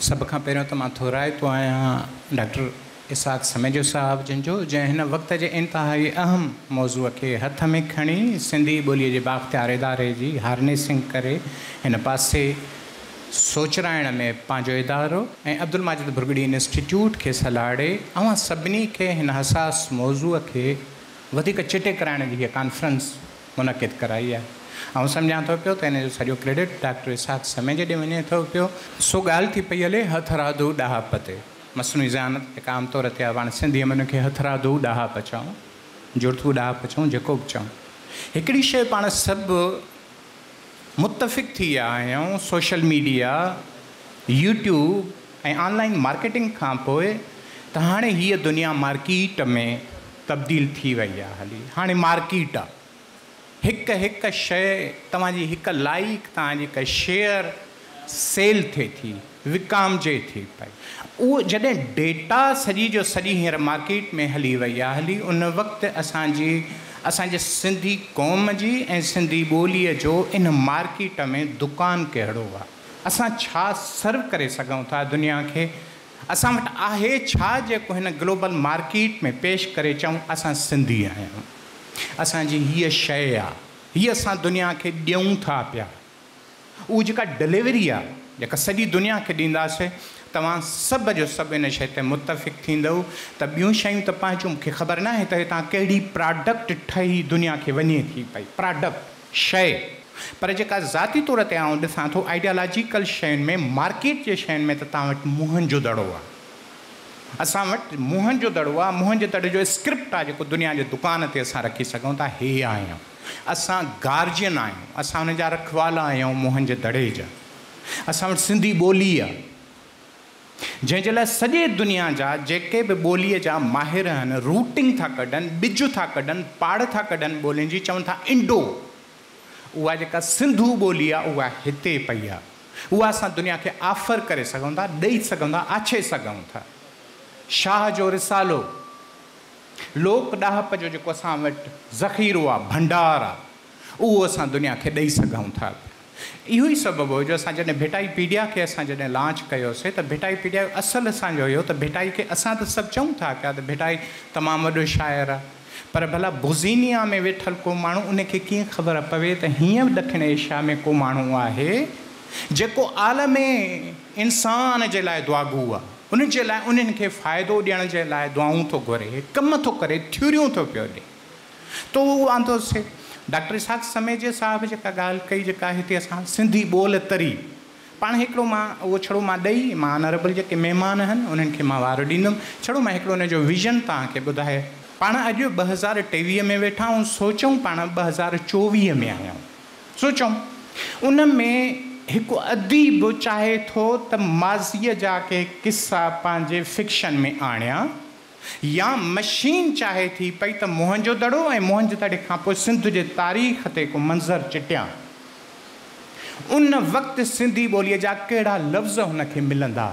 سڀ کان پهريون ته مان ٿورائتو آهيان ڊاڪٽر اسحاق سميجو صاحب جن جو، جنهن هن وقت جي انتهائي اهم موضوع کي هٿ ۾ کڻي سنڌي ٻوليء جي بااختيار اداري جي هارنيسنگ ڪري هن پاسي سوچرائڻ ۾ پنهنجو ادارو ۽ عبدالماجد ڀرڳڙي انسٽيٽيوٽ کي سلهاڙي اوهان سڀني کي هن حساس موضوع کي وڌيڪ چٽي ڪرائڻ جي هيء ڪانفرنس منعقد ڪرائي آهي. آئون سمجهان ٿو پيو ته ان جو سڄو ڪريڊٽ ڊاڪٽر اسحاق سميجي ڏي وڃي ٿو پيو. سو ڳالهه ٿي پئي هلي هٿرادو ڏاهپ تي. مصنوعي ذهانت هڪ عام طور تي آهي. پاڻ سنڌيء ۾ ان کي هٿرادو ڏاهپ چئون، جڙتو ڏاهپ چئون، جيڪو به چئون. هڪڙي شيء پاڻ سڀ متفق ٿي ويا آهيون social media, YouTube ۽ online marketing کان پوء ته هاڻي هيء دنيا مارڪيٽ ۾ تبديل ٿي وئي آهي هلي هاڻي مارڪيٽ آهي هڪ هڪ شيء توهان جي هڪ لائيڪ توهان جي هڪ شيئر سيل ٿئي ٿي، وڪامجي ٿي پئي. اهو جڏهن ڊيٽا سڄي جو سڄي هينئر مارڪيٽ ۾ هلي وئي آهي هلي ان وقت اسان جي اسان جي سنڌي قوم جي ۽ سنڌي ٻوليء جو ان مارڪيٽ ۾ دڪان ڪهڙو آهي؟ اسان ڇا سرو ڪري سگهون ٿا دنيا کي؟ اسان وٽ آهي ڇا جيڪو هن گلوبل مارڪيٽ ۾ پيش ڪري چئون اسان سنڌي آهيون. اسان جي هيء شيء آهي. هيء اسان دنيا کي ڏيون ٿا پيا. اهو جيڪا ڊليوري آهي جيڪا سڄي دنيا کي ڏينداسي توهان سڀ جو سڀ ان شيء تي متفق ٿيندؤ ته ٻيون شيون ته پنهنجون مون کي خبر ناهي ته هتان ڪهڙي پراڊڪٽ ٺهي دنيا کي وڃي ٿي پئي پراڊڪٽ شيء پر جيڪا ذاتي طور تي آئون ڏسان ٿو آئيڊيالاجيڪل شين ۾ مارڪيٽ جي شين ۾ ته توهان وٽ موهن جو دڙو آهي اسان وٽ موهن جو دڙو آهي موهن جي دڙي جو اسڪرپٽ آهي جيڪو دنيا جي دڪان تي اسان رکي سگهون ٿا هي آهيان. اسان گارجين آهيون، اسان ان جا رکوالا آهيون موهن جي دڙي جا، اسان وٽ سنڌي ٻولي آهي جنهن جي لاء سڄي دنيا جا جيڪي به ٻوليء جا ماهر آهن روٽنگ ٿا ڪڍن، ٻج ٿا ڪڍن، پاڙ ٿا ڪڍن ٻولين جي چون ٿا انڊو، اها جيڪا سنڌو ٻولي آهي اها هتي پئي آهي، اها اسان دنيا کي آفر ڪري سگهون ٿا، ڏئي سگهون ٿا، آڇي سگهون ٿا. شاهه جو رسالو. لوڪ ڏاهپ جو جيڪو اسان وٽ ذخيرو آهي، ڀنڊار آهي، اهو اسان دنيا کي ڏئي سگهون ٿا پيا. اهو ئي سبب هو جو اسان جڏهن ڀٽائي پيڊيا کي اسان جڏهن لانچ ڪيوسي ته ڀٽائي پيڊيا جو اصل اسان جو اهو ته ڀٽائي کي اسان ته سڀ چئون ٿا پيا ته ڀٽائي تمام وڏو شاعر آهي پر ڀلا بوزينيا ۾ ويٺل ڪو ماڻهو ان کي ڪيئن خبر پوي ته هينئر ڏکڻ ايشيا ۾ ڪو ماڻهو آهي جيڪو عالم انسان جي لاء دعاگو آهي. ان جي لاء انهن کي فائدو ڏيڻ جي لاء دعائون ٿو گهري، ڪم ٿو ڪري، ٿيوريون ٿو پيو ڏئي. تو اهو آندو سي. ڊاڪٽر اسحاق سميجي صاحب جيڪا ڳالهه ڪئي، جيڪا هتي اسان سنڌي ٻول تري پاڻ هڪڙو مان اهو ڇڙو مان ڏئي، مان آنريبل جيڪي مهمان آهن، انهن کي مان وار ڏيندم. ڇڙو مان هڪڙو ان جو ويزن توهان کي ٻڌائي. پاڻ اڄ ٻه هزار ٽيويهه ۾ ويٺا آهيون، سوچيون پاڻ ٻه هزار چوويهه ۾ آهيون. سوچون، ان ۾ هڪ اديب چاهي ٿو ته ماضيء جا ڪي قصا پنهنجي فڪشن ۾ آڻيان يا مشين چاهي ٿي پئي ته موهنجو دڙو ۽ موهنجو دڙي کان پوء سنڌ جي تاريخ تي ڪو منظر چٽيان. ان وقت سنڌي ٻوليء جا ڪهڙا لفظ هن کي ملندا؟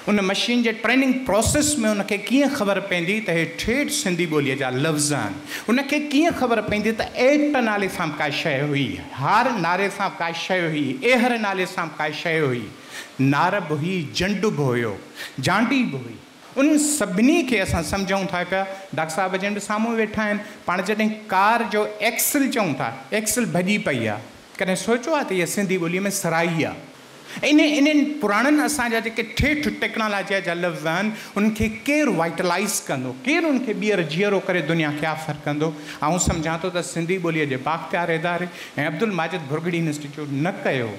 ان مشين جي ٽريننگ پراسيس ۾ ان کي ڪيئن خبر پوندي ته هي ٺيٺ سنڌي ٻوليء جا لفظ آهن، ان کي ڪيئن خبر پوندي ته ايڪٽ نالي سان به ڪا شيء هئي، هار ناري سان به ڪا شيء هئي، ايهر نالي سان به ڪا شيء هئي، نار به هئي، جنڊ به هيو، جانڊي به هئي. انهن سڀني کي اسان سمجهون ٿا پيا. ڊاڪٽر صاحب جن به سامهون ويٺا آهن. پاڻ جڏهن ڪار جو ايڪسل چئون ٿا، ايڪسل ڀڄي پئي آهي. ڪڏهن سوچيو آهي ته اها سنڌي ٻوليء ۾ سرائي آهي. انهن انهن پراڻن اسان جا جيڪي ٺيٺ ٽيڪنالاجيء جا لفظ آهن، انهن کي ڪير وائٽلائيز ڪندو؟ ڪير انهن کي ٻيهر جيئرو ڪري دنيا کي آفر ڪندو؟ آئون سمجهان ٿو ته سنڌي ٻوليء جي بااختيار اداري ۽ عبدالماجد ڀرڳڙي انسٽيٽيوٽ نه ڪيو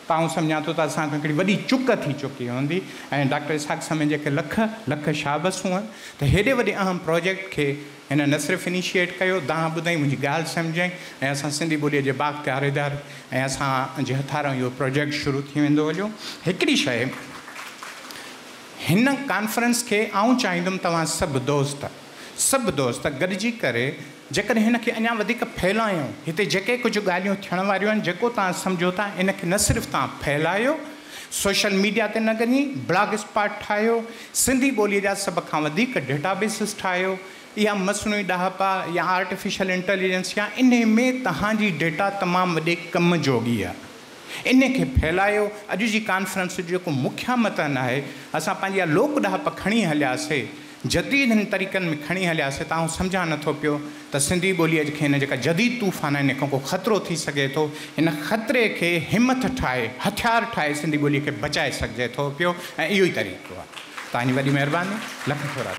ته آئون سمجهان ٿو ته اسان کان هڪڙي وڏي چڪ ٿي چڪي هوندي ۽ ڊاڪٽر اسحاق سميجي کي لک لک شابس هئن ته هيڏي وڏي اهم پراجيڪٽ کي هن نه صرف انيشيئيٽ ڪيو، دانهن ٻڌائين، منهنجي ڳالهه سمجهيائين ۽ اسان سنڌي ٻوليء جي بااختيار اداري ۽ اسان جي هٿارئون اهو پراجيڪٽ شروع ٿي ويندو هليو. هڪڙي شيء، هن ڪانفرنس کي آئون چاهيندم توهان سڀ دوست، سڀ دوست گڏجي ڪري جيڪڏهن هن کي اڃا وڌيڪ ڦهلايون، هتي جيڪي ڪجهه ڳالهيون ٿيڻ واريون آهن، جيڪو توهان سمجهو ٿا، ان کي نه صرف توهان ڦهلايو، سوشل ميڊيا تي نه گني بلاگ اسپاٽ ٺاهيو، سنڌي ٻوليء جا سڀ کان وڌيڪ ڊيٽا بيسز ٺاهيو، اها مصنوعي ڏاهپا يا آرٽيفيشل انٽيليجنس يا انهي ۾ توهان جي ڊيٽا تمام وڏي ڪم جوڳي آهي، انهي کي ڦهلايو، اڄ جي ڪانفرنس جو جيڪو مکيه متن آهي، اسان پنهنجي اها لوڪ ڏاهپ کڻي هلياسي، جديد هن طريقن ۾ کڻي هليا سي تانهون سمجهان نه ٿو پيو ته سنڌي ٻوليء کي هن جيڪا جديد طوفان آهن ان کان ڪو خطرو ٿي سگهي ٿو ان خطري کي همٿ ٺاهي هٿيار ٺاهي سنڌي ٻوليء کي بچائي سگهجي ٿو پيو ۽ اهو ئي طريقو آهي توهان جي وڏي مهرباني لک ٿورا.